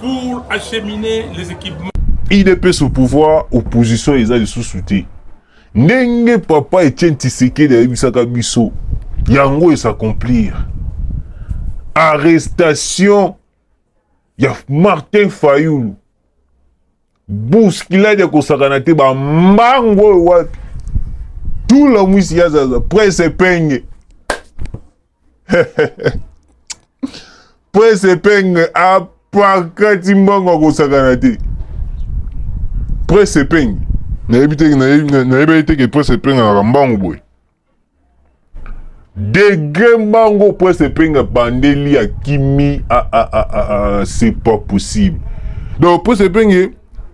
pour acheminer les équipements. idps au pouvoir opposition eza lisusu te ndenge papa etienne tisekedi ayebisaka biso yango esacomplir arrestation ya martin fayulu buskilade ya kosakana te bambango oyo wapi tula mwisi ya zaza prese penge prese penge apakati mbongo akosakana te prese penge nayebi te nayebeli te ke prese penge alaka mbangu boye degre mbango prese penge abandeli akimi c'est pas possible donc prese penge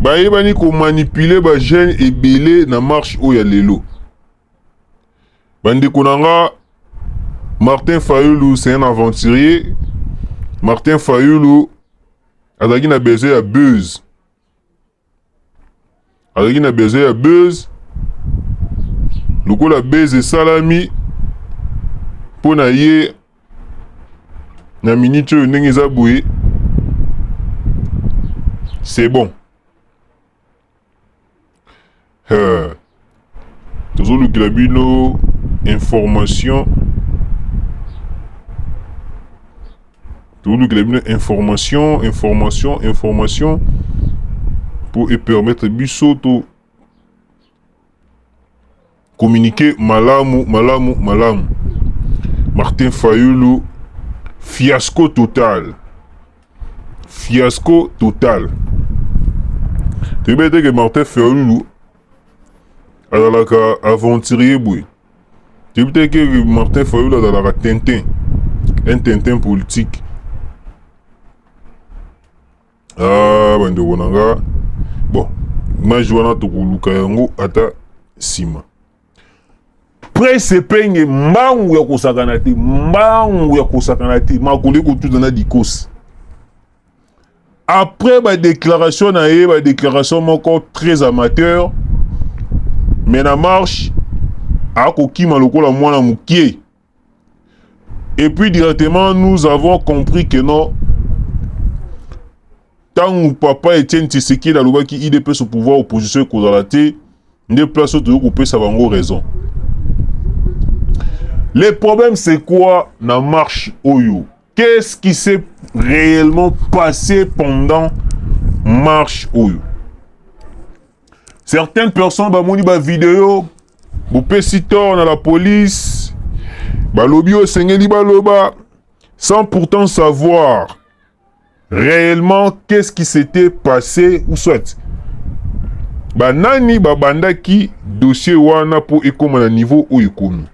Bayebani ko manipuler ba jeunes ebele na marche oyo ya lelo. Bandeko na nga Martin Fayulu c'est un aventurier. Martin Fayulu azalaki na besoin ya buzz. azalaki na besoin ya buzz lokola buzz esalami mpo na ye na miniti oyo ndenge eza boye c'est bon Heur. Tozolukela bino information. Tozolukela bino information, information, information pour e permettre biso to communiquer malamu malamu malamu. Martin Fayulu fiasco total. fiasco total toyebi ete ke martin ferlulu azalaka aventurier boye toyebi te ke martin ferlulu azalaka tintin un tintin politique ah bandeko na nga bon image wana tokoluka yango ata nsima prese penge mbangu ya kosakana te mbangu ya kosakana te makolo ekotuta na dikosi après badéclaration na ye badéclaration moko très amateur mais na marche akokima lokola mwana mokie Et puis directement, nous avons compris que non, ntango papa Etienne Tshisekedi alobaki IDPS au pouvoir opposition ekozala te nde place oyo toyei kopesa bango raison. Le problème c'est quoi na marche oyo? Qu'est-ce qui s'est réellement passé pendant marche oyo? Certaines personnes bamoni ba video bopesi tort na la police balobi oyo esengeli baloba sans pourtant savoir réellement qu'est-ce qui s'était passé ou soit banani babandaki dossier wana mpo ekoma na niveau oyo ekomi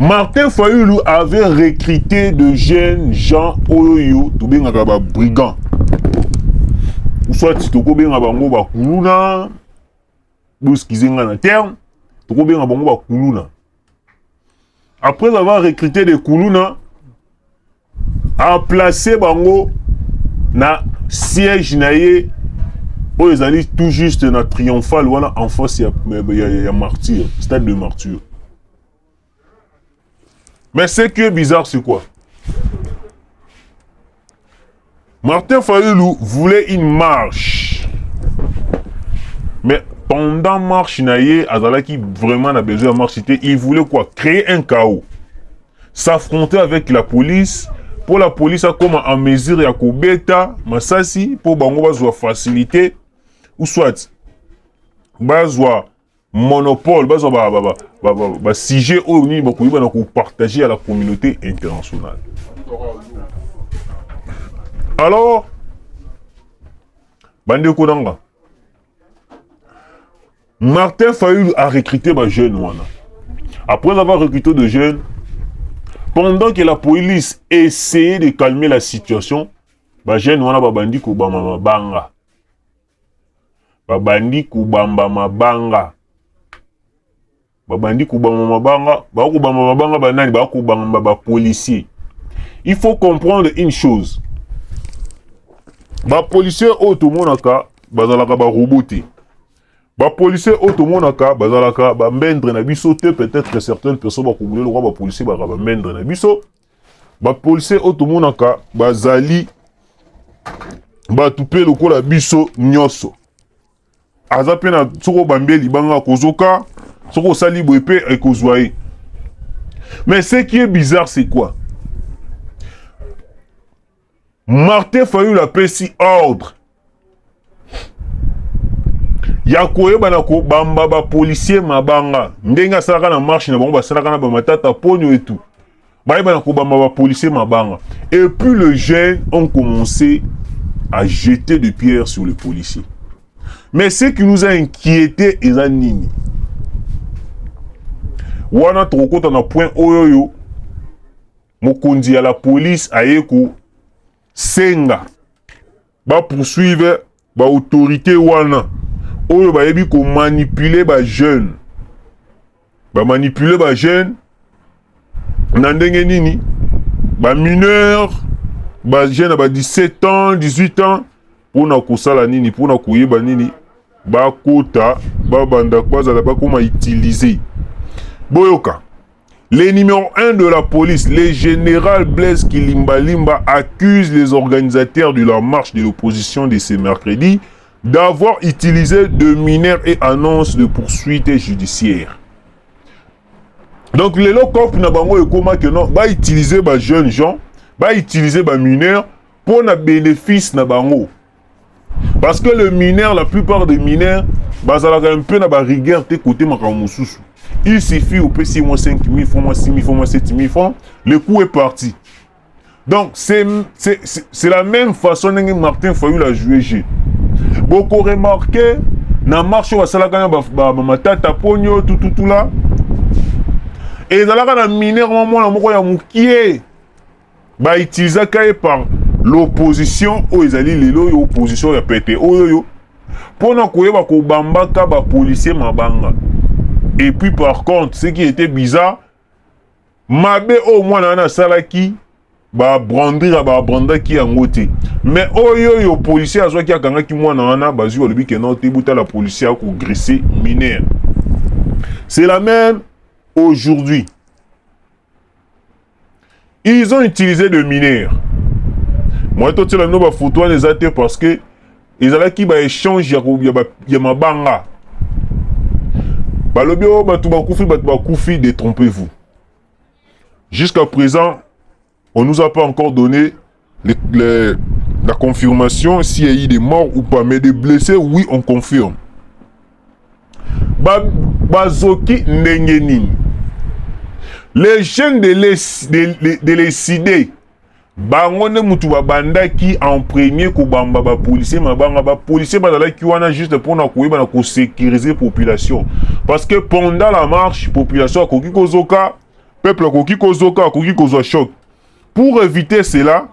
Martin Fayulu avait recruté de jeunes gens oyo tobengaka ba brigands ou soit tokobenga bango ba kuluna boskize nga na terme tokobenga bango ba kuluna après avoir recruté des kuluna a place bango na siège na ye oyo ezali tout juste na triomphal wana en face ya, ya, ya martyr stade de martyr mais ce qui est bizarre c'est quoi Martin Fayulu voulait une marche. Mais pendant marche na ye azalaki vraiment na besoin ya marche te, il voulait quoi créer un chaos. S'affronter avec la police pour la police akoma en mesure ya kobeta masasi pour bango bazwa facilité ou soit bazwa monopole bazwa ba, ba, ba, ba, ba, ba sujet oyo nini bakoki bana kopartage ya la communauté internationale alors bandeko na nga martin fayulu a recruté bajeune wana après avoir recruté de jeunes pendant que la police essayait de calmer la situation bajeune wana babandi kobama mabanga babandi kobamba mabanga babandi kobamba mabanga bakobamba mabanga banani bakobamba bapolicier il faut comprendre une chose bapolicier oyo tomonaka bazalaka barobo te bapolicier oyo tomonaka bazalaka bamendre na biso te peut-être certaines personnes bakobulela lokwa bapolicier bazalaka bamendre na biso ba policiers oyo tomonaka bazali bato mpe lokola biso nyonso aza mpe na soki obambi ye libanga akozoka soki osali boye mpe ekozwa ye mais ce qui est bizarre c'est quoi Martin Fayulu apesi ordre ya koyebana kobamba bapolisier mabanga ndenge asalaka na marche na bango basalaka na bamatata mponio etu bayebana kobamba bapolisier mabanga et puis le jeune ont commencé à jeter de pierre sur le policier mais ce qui nous a inquiété eza nini wana tokokota na point oyo oyo Mokonzi ya la police aye ko senga ba poursuivre ba autorités wana oyo bayebi ko manipuler ba jeunes ba manipuler ba jeunes na ndenge nini ba mineurs ba jeunes ya ba 17 ans 18 ans Mpo na kosala nini? Mpo na koyeba nini? Bakota, babanda, bazala, bakoma utiliser. Boyoka. Le numéro 1 de la police, le général Blaise Kilimbalimba, accuse les organisateurs de la marche de l'opposition de ce mercredi d'avoir utilisé de mineurs et annonce de poursuites judiciaires. Donc, les locaux, que non, va utiliser les jeunes gens, va utiliser les mineurs mpo na benefice na bango parce que le mineur la plupart des mineurs bazalaka un peu na ba rigueur te kote makambo mosusu il suffit opesi ye mwa 5000 francs mwa 6000 francs mwa 7000 francs le coup est parti donc c'est la même façon ndenge martin fayul a joue jeu boko remarquer na marche oyo basalaka na bamatata ba, ba, ponio tututula ezalaka na mineur mwa mwana moko ya mokie ba utilisaka ye par l'opposition oyo ezali lelo oyo opposition ya pete oyo oyo mpo na koyeba kobambaka bapolisier mabanga et puis par contre ce qui était bizarre mabe oyo mwana wana asalaki babrandira babrandaki yango te mais oyo oyo policier azwaki akangaki mwana wana bazwi balobi ke nao te botala policier akogrese mineur c'est la même aujourd'hui ils ont utilisé de mineurs moye totyela bino bafoto wana eza te parce que ezalaki baéchange ya mabanga balobi oyo oh, bato bakufi bato bakufi détrompez-vous jusqu'à présent on nous a pas encore donné Les, les, la confirmation s'il y a eu des morts ou pas, mais des blessés, oui, on confirme. Ba, bazoki ndenge nini les jeunes de les, de, de, de les cider bango nde motu babandaki en premier kobamba bapolisier mabanga bapolisier bazalaki wana juste mpona koyeba na kosécurise population parce que pendant la marche population akoki kozoka peuple akoki kozoka akoki kozwa choc Pour eviter cela,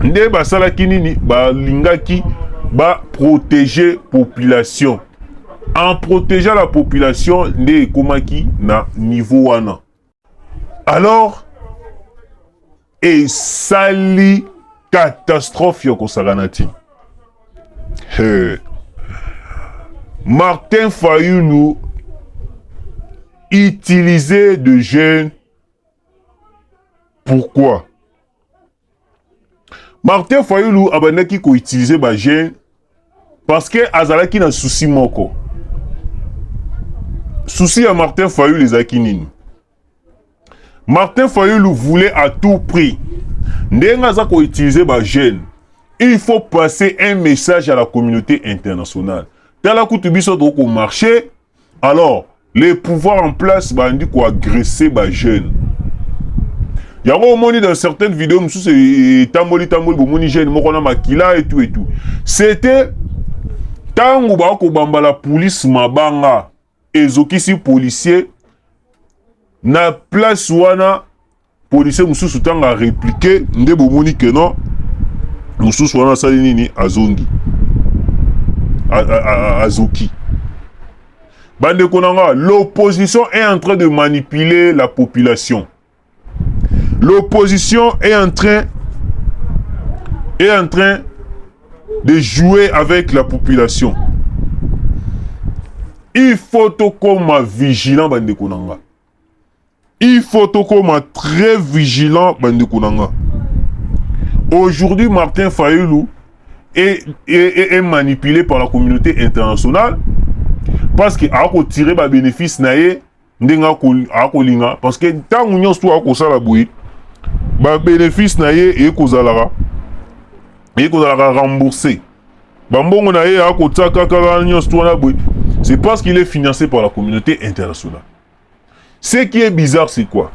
nde basalaki nini? Balingaki ba protéger population. En protégeant la population nde ekomaki na niveau wana. Alors esali catastrophe ya kosakana ti. Hey. Martin Fayulu utilisait de jeunes pourquoi martin fayulu abandaki koutilize bajeune parce que azalaki na souci moko souci ya martin fayulu ezalaki nini martin fayulu voulait à tout prix ndenge aza koutilize bajeune il faut passer un message à la communauté internationale tala kutu biso tokomarche alors les pouvoirs en place bandi koagresse bajeune yango omoni dans certaines vidéos mosusu etamboli tamboli bomoni jeune moko na makila etu etu c'était ntango bakobamba la police mabanga ezokisi policier na place wana Policier mususu tanga a repliquer nde bomoni que non mususu wana asali nini azongi azoki bandeko na nga l'opposition est en train de manipuler la population l'opposition est en train est en train de jouer avec la population il faut tokoma vigilant bandeko na nga Il faut tokoma très vigilant bandeko na nga. Aujourd'hui Martin Fayulu est, est, est, est manipulé par la communauté internationale parce que ako tirer ba bénéfice na ye ndenge akolinga parce que ntango nyonso to akosala boye ba bénéfice na ye ekozalaka ekozalaka rembourser Ba mbongo na ye ako tia kaka wana nyonso wana boye. C'est parce qu'il est financé par la communauté internationale. Ce qui est bizarre c'est quoi?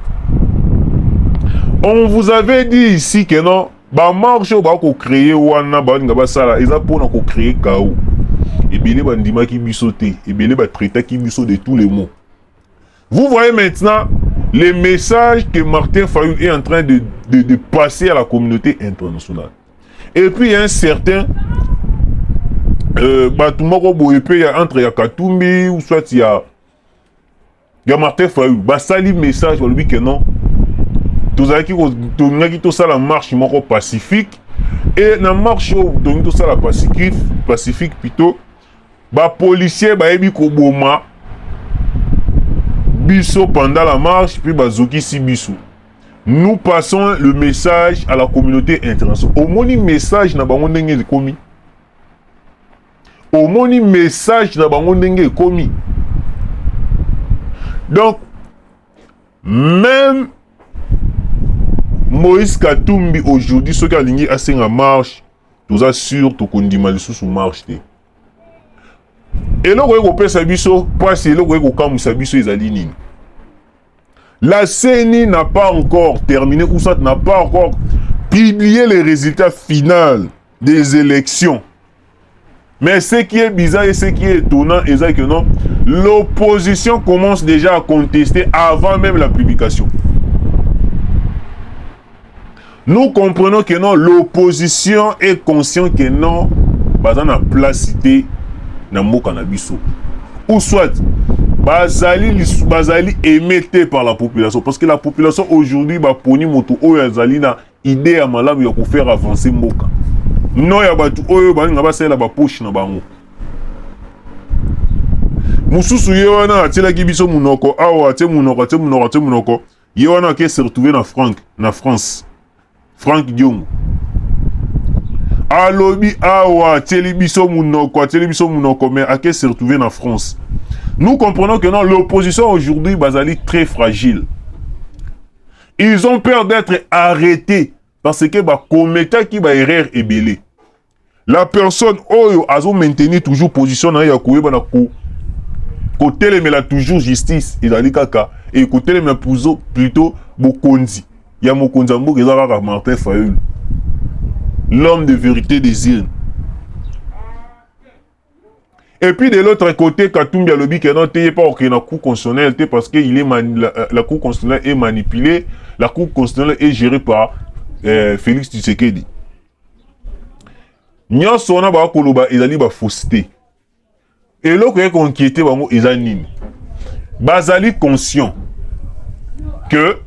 On vous avait dit ici que non ba marche oyo bako créer wana balinga basala eza pona ko créer chaos. Ebele bandimaki biso te, ebele ba traitaki biso de tous les mots. Vous voyez maintenant les messages que Martin Fayou est en train de, de, de passer à la communauté internationale. Et puis il y a un certain euh, bato moko boye mpe ya entre ya katumbi ou soit ya ya martin fayou basali message balobi ke non tozalaki tolingaki tosala marche moko pacifique e na marche oyo tolingi tosala pacifique plutôt Ba policiers bayebi koboma biso pendant la marche puis bazokisi biso. Nous passons le message à la communauté internationale. Omoni message na bango ndenge ekomi. Omoni message na bango ndenge ekomi. Donc même Moïse Katumbi aujourd'hui soki alingi asenga marche toza sur tokondima lisusu marche te eloko ekopesa biso mpasi eloko ekokamwisa biso ezali nini la ceni n'a pas encore terminé ou ça n'a pas encore publié les résultats finaux des élections Mais ce qui est bizarre et ce qui est étonnant, c'est que non, l'opposition commence déjà à contester avant même la publication. Nous comprenons que non, l'opposition est consciente que non, baza na place cité na mboka na biso. Ou soit bazali bazali aimé par la population parce que la population aujourd'hui ba poni moto oyo azali na Idee ya malamu ya ko faire avancer mboka. No ya batu oyo balinga basalela ba poche na bango. Mususu ye wana atilaki biso munoko awa atie munoko atie munoko atie munoko ye wana ake se retrouver na Frank na France. Frank Diongo. alobi awa atieli biso munoko atieli biso munoko mais ake se retrouver na France nous comprenons que non l'opposition aujourd'hui bazali très fragile Ils ont peur d'être arrêtés parce que ba commetaki ba erreur ebele. La personne oyo azo maintenir toujours position na ye ya koyeba na ko kotelemela toujours justice ezali kaka e kotelemela puzo plutôt bokonzi ya mokonzi ya mboka eza kaka Martin Fayulu l'homme de vérité des urnes Et puis de l'autre côté, Katumbi alobi que non, t'es pas ok na cour constitutionnelle, t'es parce que il est mani- la, euh, la cour constitutionnelle est manipulée, la cour constitutionnelle est gérée par euh, Félix Tshisekedi. Nyonso wana ba koloba ezali ba fausseté. Eloko ya konkiete bango eza nini? Bazali conscient que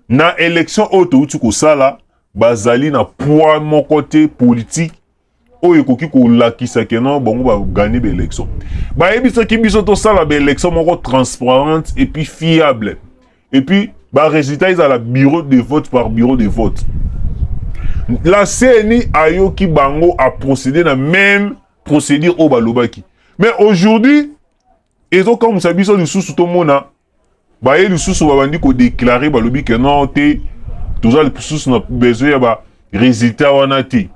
na élection oyo touti kosala bazali na poids moko te politique oyo ekoki kolakisa ke non bango baganye baélection bayebisaki biso tosala baélection moko transparente epuis fiable epuis baresultat ezala bureau de vote par bureau de vote la cni ayoki bango aprocédé na même procédure oyo balobaki mais aujourd'hui ezokamwisa biso lisusu tomona Baye lisusu babandi ko declarer balobi que non te toza lisusu na besoin ya ba resultat wana te.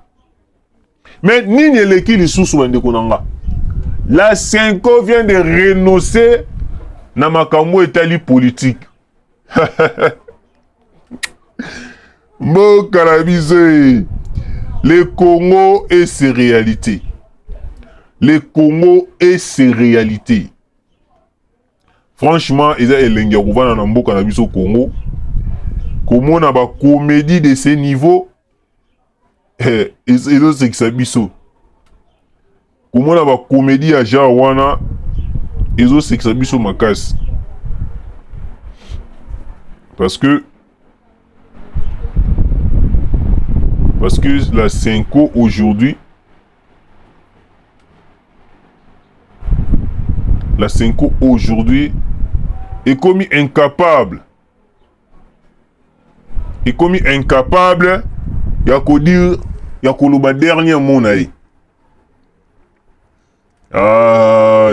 Mais nini eleki lisusu bandeko na nga? La Senko vient de renoncer na makambo etali politique. mboka na biso e le congo et ses réalités le congo et ses réalités Franchement eza elengi ya kovanda na mboka na biso Congo komona ba comedie de ce niveau eh, ezosekisa biso komona ba comedie ya genre wana ezosekisa biso makasi parce que parce que la Senko aujourd'hui La Senko aujourd'hui est comme incapable. Est comme incapable ya ko dire ya koloba dernier mot na ye. Ah,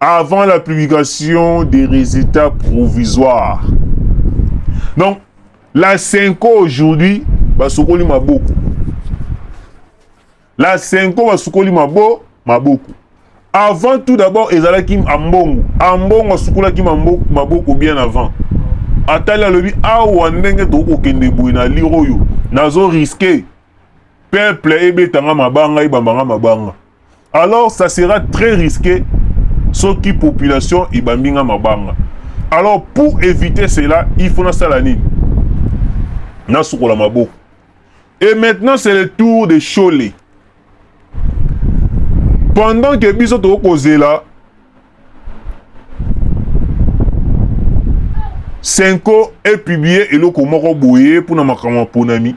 avant la publication des résultats provisoires. Donc, la Senko aujourd'hui, basokoli maboko. La Senko basokoli mabo, maboko. Avant tout d'abord, ezalaki Ambongo. Ambongo asukolaki maboko bien avant. atali alobi awa ndenge tokoki kokende boye na lire oyo nazo riske peuple ebetanga mabanga ebambanga mabanga alors ça sera très risqué soki population ebambi nga mabanga alors pour éviter cela il faut nasala nini nasukola maboko et maintenant c'est le tour de shole pendant que biso tokoki kozela senko epublie eloko moko boye mpo na makambo maponami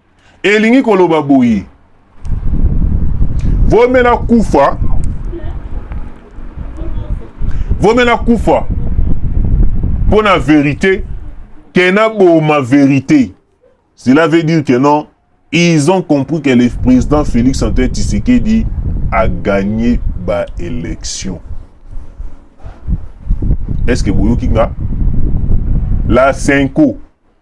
elingi koloba boye vome na kufa vome na kufa mpo na verite ke naboma verite cela veut dire que non ils ont compris que le président félix antoine tshisekedi a gagné baélection est ce que boyoki nga la cinco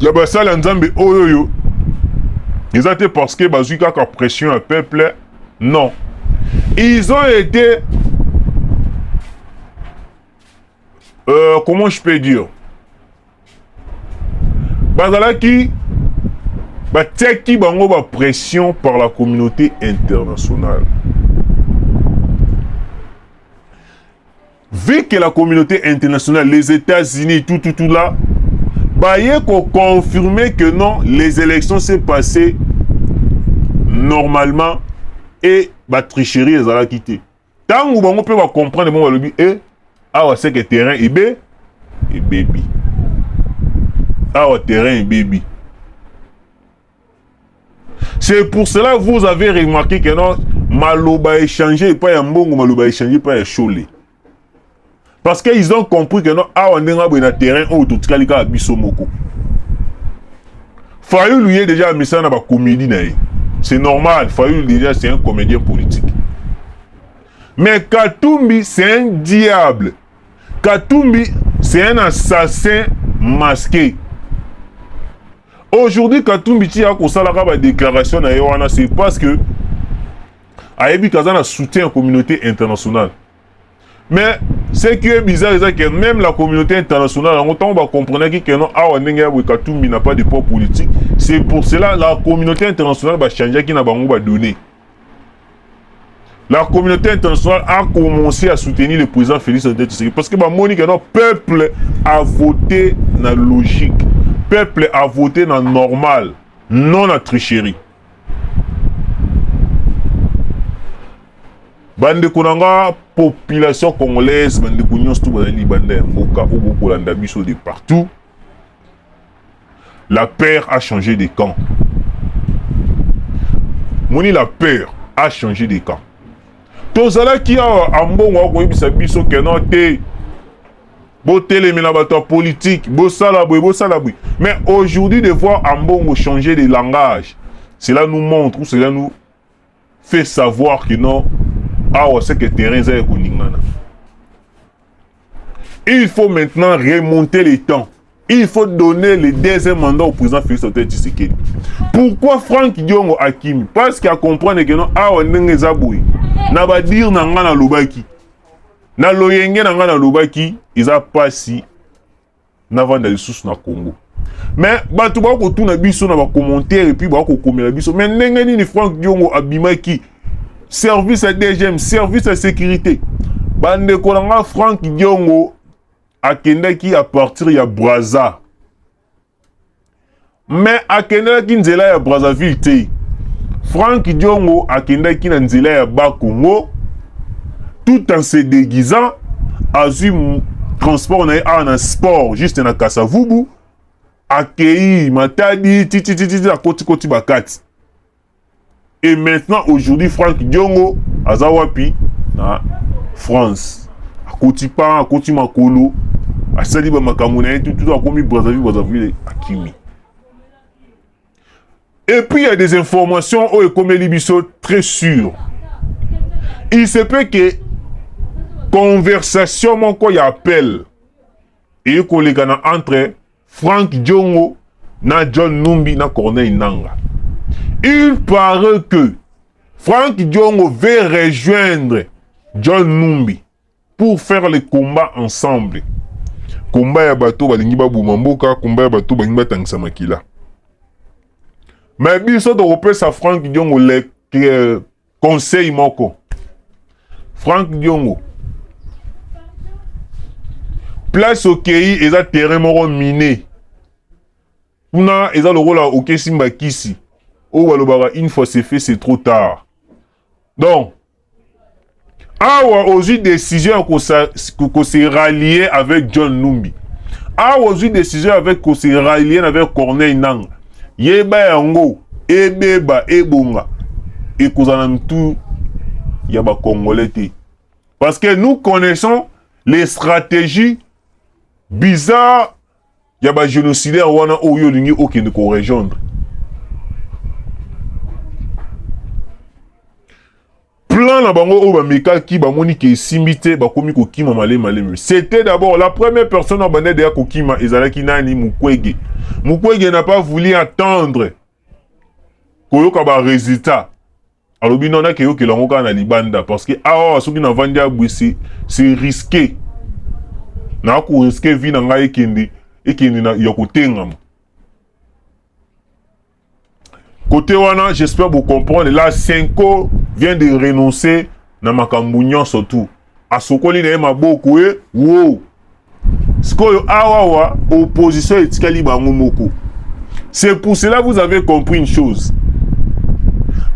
ya basali ya nzambe oyo oyo eza te parce que bazwi kaka pression ya peuple non ils ont été euh, comment je peux dire bazalaki batiaki bango bapression par la communauté internationale Vu que la communauté internationale, les États-Unis, tout, tout, tout là, baye ko confirmer que non, les élections s'est passées normalement et ba tricherie ezalaki te. Tango bango pe ba comprendre bango balobi e eh, awa c'est que terrain ebe ebebi. Awa terrain ebebi. C'est pour cela vous avez remarqué que non maloba échangé pas ya mbongo maloba échangé pas ya shole. Parce qu'ils ont compris que non awa ndenge abe na terrain oyo totikali kaka biso moko. Fayulu ye déjà amisa na ba comédie na ye. C'est normal, Fayulu déjà c'est un comédien politique. Mais Katumbi c'est un diable. Katumbi c'est un assassin masqué. Aujourd'hui Katumbi ti ako salaka ba déclaration na ye wana c'est parce que ayebi kaza na soutien ya communauté internationale. Mais ce qui est bizarre c'est que même la communauté internationale en autant va comprendre que non awa ndenge ya Katumbi n'a pas de poids politique. C'est pour cela la communauté internationale va changer qui na bango ba donner. la communauté internationale a commencé à soutenir le président Félix Antoine Tshisekedi parce que ba moni que notre peuple a voté na logique, peuple a voté na normal, non na tricherie. bandeko na nga population congolaise bandeko nyonso to bazali libanda ya mboka oyo bokolanda biso de partout La peur a changé de camp. Moni la peur a changé de camp. tozalaki awa ambongo akoyebisa biso keno te botelemela bato ya politike bosala boye bosala boye mais aujourd'hui de voir ambongo changer de langage cela nous montre ou cela nous fait savoir que non awa c'est que terrain eza ekolingana il faut maintenant remonter les temps il faut donner le deuxième mandat au président Félix Antoine Tshisekedi pourquoi Franck Diongo akimi parce qu'il a comprendre que non awa ndenge eza boye na badire na ngai nalobaki na loyenge na ngai nalobaki eza mpasi navanda lisusu na congo me bato bakotuna biso na bacommentaire epuis bakokomela biso me ndenge nini frank diongo abimaki service ya dgm service ya sécurité bandeko na nga frank diongo akendaki a partir ya braza Mais akendelaki nzela ya Brazzaville te. Franck Diongo akendaki na nzela ya Bas Congo tout en se déguisant azui transport na ye awa na sport juste na Kasavubu akei Matadi titititi akotikoti bakati Et maintenant, aujourd'hui, Franck Diongo, Azawapi, na France. Akoti pa, akoti makolo, asali ba makambo na ye tout tout akomi Brazzaville, Brazzaville akimi. Et puis il y a des informations oyo ekomeli biso très sûr. Il se peut que conversation moko ya appel et koleka na entre Frank Diongo na John Numbi na Corneille Nanga. Il paraît que Frank Diongo veut rejoindre John Numbi pour faire le combat ensemble. Combat ya bato balingi baboma mboka, combat ya bato balingi batangisa makila. Mais biso tokopesa Frank Diongo le conseil moko frank diongo place okei eza terrain moko mine kuna eza lokola okesi mbakisi oyo balobaka une fois c'est fait c'est trop tard donc awa ozwi decision ya ko se rallier avec John Numbi, awa ozwi decision avec ko se rallier avec Corneille Nanga, yeba yango ebeba ebonga ekozala na mitu ya ba congolais te, parce que nous connaissons les stratégies bizarres ya ba génocidaire wana oyo olingi okende ko rejoindre plan na bango oyo bamekaki bamoni ke esimbi te bakomi kokima malemi malemi c'était d'abord la première personne oyo bandaki deya kokima ezalaki nani mukwege mukwege n'a pas voulu attendre koyoka baresultat alobi nona keyokela yango kaka na libanda parce que awa soki navandi abwe c'est risqué naa koriske vi na ngai ekende ekende ya kotengama Côté wana, j'espère vous comprendre. Là, Senko vient de renoncer na makambo nyonso tout. Asokoli na ye maboko e wo. Sikoyo awawa opposition etikali bango moko. C'est pour cela vous avez compris une chose.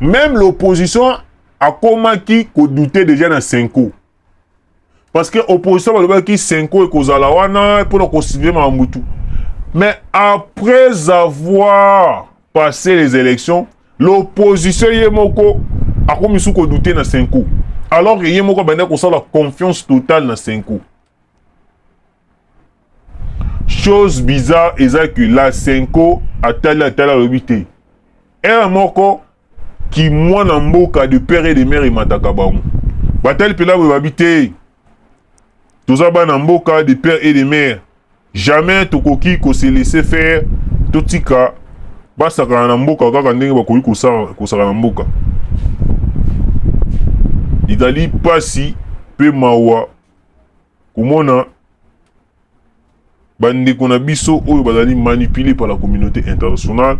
Même l'opposition a comment qui douter déjà na Senko. parce que opposition balobaki senko ekozala wana mpona kosilve makambo tu mais après avoir passé les élections l'opposition ye moko akomi su kodoute na senko alors que ye moko abandaki kosala confiance totale na senko chose bizarre eza que la senko atali atali alobi te ere moko kimwana mboka de père et de mère emataka bango batali mpela boye babi te toza bana mboka de père et de mère jamais tokoki kose laisser faire totika basakana na mboka kaka ndenge bakoki kosaka na mboka ezali mpasi mpe mawa Komona ba ndeko na biso oyo bazali manipuler par la communauté internationale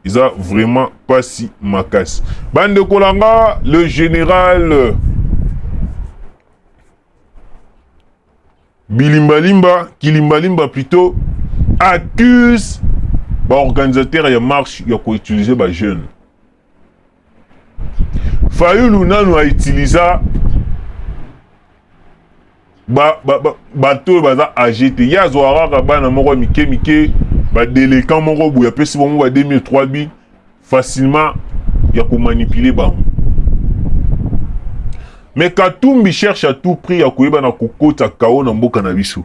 eza vraiment pasi makasi. Ba ndeko na nga le général Bilimbalimba, Kilimbalimba plutôt accuse ba organisateurs ya marche ya ko utiliser ba jeunes fayulu nanu a utilisa bato ba, ba, ba oyo baza age te ye azwaka kaka bana moko ya mike mike badelekan moko boye apesi bango ba 2003 bi facilement ya komanipule bango me katumbi cherche à tout prix ya koyeba na kokota kao na mboka na biso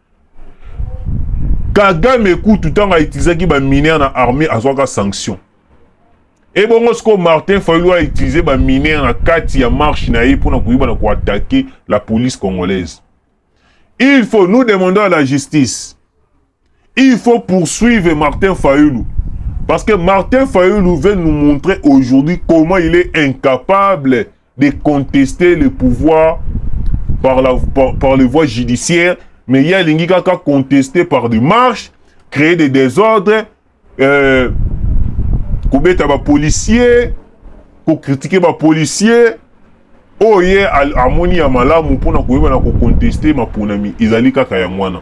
kagame kutu ntango autilisaki baminere na armée azwaka sanction ebongo sikoyo martin fayulu autilize baminere na kati ya marche na ye mpo na koyeba na koatake la police congolaise il faut nous demandons à la justice il faut poursuivre martin fayulu parce que martin fayulu veut nous montrer aujourd'hui comment il est incapable de contester le pouvoir par, la, par, par les voies judiciaires, mais il y a l'ingikaka contesté par des marches, créer des désordres, euh, kobeta ba policiers, ko critiquer ba policiers, oyo ye amoni ya malamu mpona koyeba na kokonteste maponami ezali kaka yango wana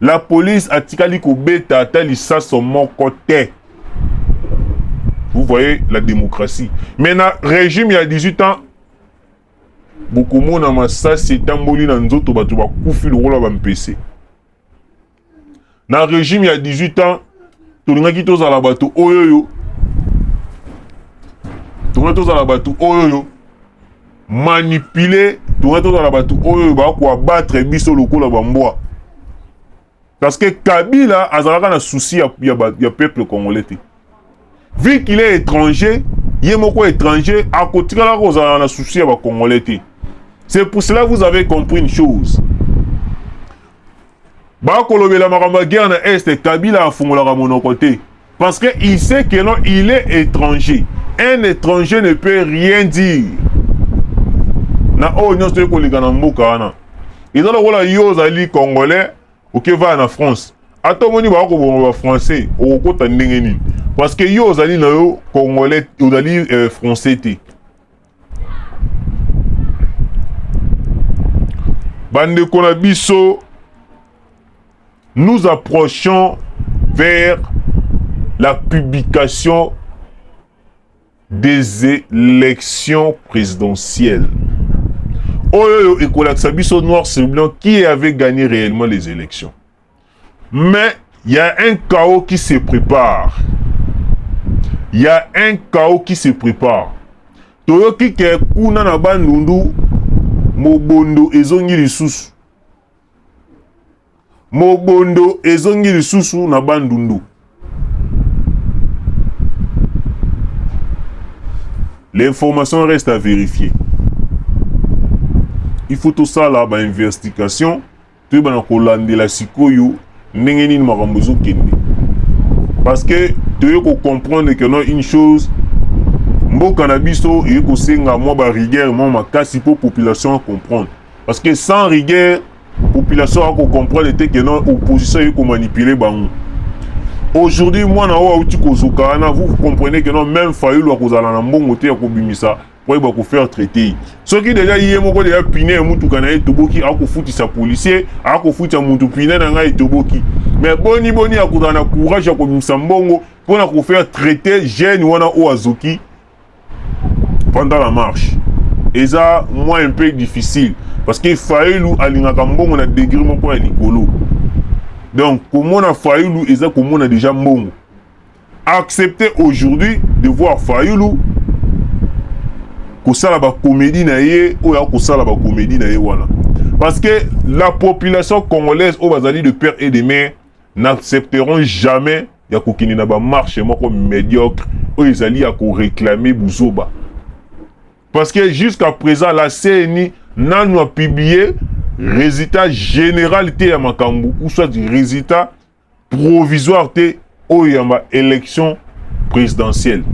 La police atikali kobeta ata lisaso moko te. Vous voyez la démocratie. Mais na régime ya 18 ans bokomona masasi etamboli na nzoto bato bakufi lokola bampese. Na régime ya 18 ans tolingaki tozala bato oyo oyo tolingaki tozala bato oyo oyo manipuler tonga tozala bato oyo bakoabattre biso lokola bambwa parce que kabila azalaka na souci ya, ya, ya peuple congolais te vu qu'il est étranger ye moko étranger akotikalaka kozala na souci ya bacongolais te c'est pour cela vous avez compris une chose bakolobela makambo ya guerre na est kabila afungolaka monoko te Parce que il sait que non, il est étranger. Un étranger ne peut rien dire. Na oyo nyonso toyei koleka na mboka wana eza lokola yo ozali congolais okevaya na france ata omoni baka koboma bafrançais okokota ndenge nini parce que yo ozali na yo congolais ozali euh, français te bandeko na biso nous approchons vers la publication des élections présidentielles oyo ekolakisa biso noir sur blanc qui avait gagné réellement les élections Mais il y a un chaos qui se prépare. Il y a un chaos qui se prépare. toyoki ke kuna na bandundu mobondo ezongi lisusu mobondo ezongi lisusu na bandundu l'information reste à vérifier il faut tosala bainvestigation toyeba na kolandela sikoyo ndenge nini makambo ezokende parce que toye kocomprendre que non une chose mboka na biso eye kosenga mwa barigueur mwa makasi mpo population acomprendre parce que sans rigueur population akocomprendre te que non opposition eye komanipule bango aujourd'hui mwana oyo auti kozoka wana vous comprenez que non même fayulu akozala na mbongo te ya kobimisa po ayeba ko faire traite soki deja ye moko deja pine ya motuka na ye etoboki akofutisa policier akofutisa motu pine na ngai etoboki me boni boni akozala na courage ya kobimisa mbongo mpo na kofaire traite jeune wana oyo azoki pendant la marche eza mwa un peu difficile parce que fayulu alingaka mbongo na degre moko ya likolo donc komona fayulu eza komona deja mbongo accepter aujourd'hui de voir Fayulu kosala ba comédie na ye oyo akosala ba comédie na ye wana parce que la population congolaise oyo bazali de père et de mère n'accepteront jamais ya kokende na bamarche moko médiocre oyo ezali ya koreklame buzoba parce que jusqu'à présent la cni nanu apublie résultat général te ya makambo ou soit résultat provisoire te oyo ya ba élection présidentielle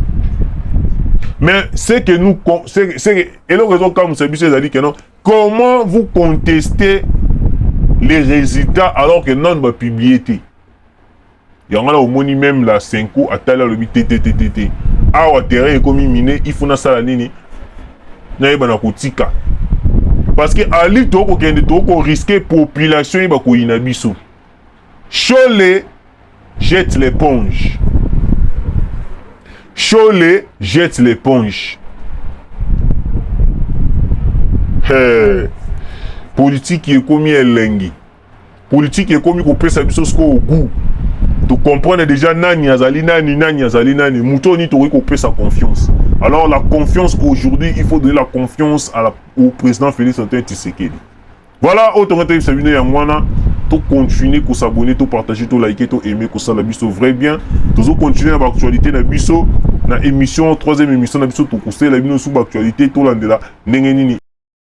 mais ce que nous ce que eloko ezokamwisa biso ezali que non comment vous contestez les résultats alors que nanu bapublie te yango wana omoni meme la senko atali alobi te te te te te awa terrain ekomi mine il faut nasala nini nayeba na kotika parce que ali tokokende tokoriske population ye bakoyina biso Shole jette l'éponge. Shole jette l'éponge. Hey. Politique ekomi elengi. Politique ekomi kopesa biso sikoyo goût. To comprendre déjà nani azali nani nani azali nani moto oyo nini tokoki kopesa confiance. Alors la confiance aujourd'hui, il faut donner la confiance à la, au président Félix Antoine Tshisekedi. Voilà, oyo tonga toyebisa bino yango wana to continuer ko s'abonner to partager to liker to aimer kosala biso vrai bien tozo continuer na ba actualité na biso na émission troisième émission na biso tokosela bino sous ba actualité tolandela ndenge nini